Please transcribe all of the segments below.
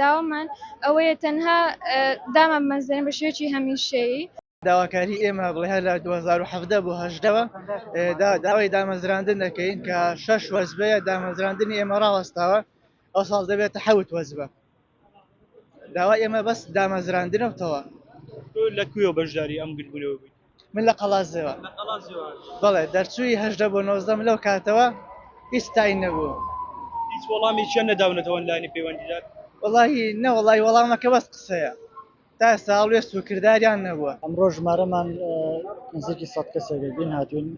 داوامان ئەوەیە تەنها دامان بمەزرێنن بە شێوەیەکی هەمیشەیی. داواکاری ئێمە بڵێ لە دوو هەزار و حەڤدە بۆ هەژدەوە داوای دامەزراندن دەکەین کە شەش وەزبەیە دامەزراندنی ئێمە ڕاوەستاوە ئەو ساڵ دەبێتە حەوت وەزبە داوا ئێمە بەس دامەزراندنەوتەوە لە کوێ بەشداری ئەم گردبوونەوە بوویت؟ من لە قەڵازێوە بەڵێ دەرچووی هەشدە بۆ نۆزدەم لەو کاتەوە هیچ تای نەبوو هیچ وەڵامی چێن نەداونەتەوەن لانی پەیوەندیدار وڵی نەوەڵی وەڵامەکە بەس قسەیە تا ساڵێست و کردداریان نەبووە ئەمڕۆ ژمارەمان نزیکی سە کەسێکبین هاتوین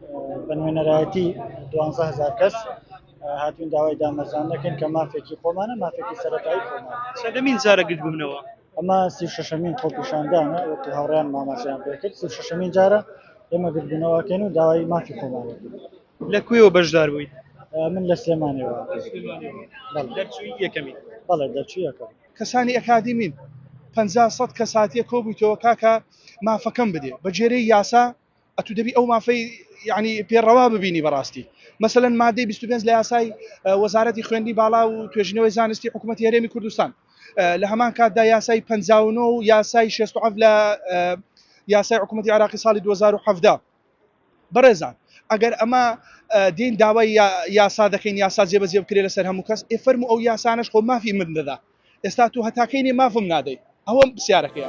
بە نوێنەرایەتی دوهزار کەس هاتوین داوای دامەزان دەکەین کە مافێکی خۆمانە مافێکی سەرەتایی خۆمان سەدەمین جارە گرت بوونەوە ئەمە سی و شەشەمین خۆپیشاندانە وەکو هاوڕێیان ماماچەیان پێکرد سی و شەشەمین جارە ئێمە گردبوونەوەکەین و داوای مافی خۆمانە لە کوێوە بەشدار بوویت؟ من لە سلێمانەوە یەکەمی بەڵێ دەرچوویەکە کەسانی ئەکادیمین پەنجا سەد کەس هاتیە کۆبوویتەوە کاکە مافەکەم بدێ بەگوێرەی یاسا ئەتو دەبی ئەو مافەی یعنی پێ ڕەوا ببینی بەڕاستی مەسەن مادەی 25 لە یاسای وەزارەتی خوێندی باڵا و توێژینەوەی زانستی حکوومەت هەرێمی کوردستان لە هەمان کاتدا یاسای 59 و یاسای 16 لە یاسای حکوومەتتی عراقی ساڵی 2017 بەڕێزان ئەگەر ئەمە دین داوای یاسا دەکەین یاسا جێبەجێ بکرێت لەسەر هەموو کەس ئێفەرمو ئەو یاسانش خۆ مافی من دەدا ئێستا تۆ هەتا کەی نێ مافم نادەی ئەوە پسیارەکەیە.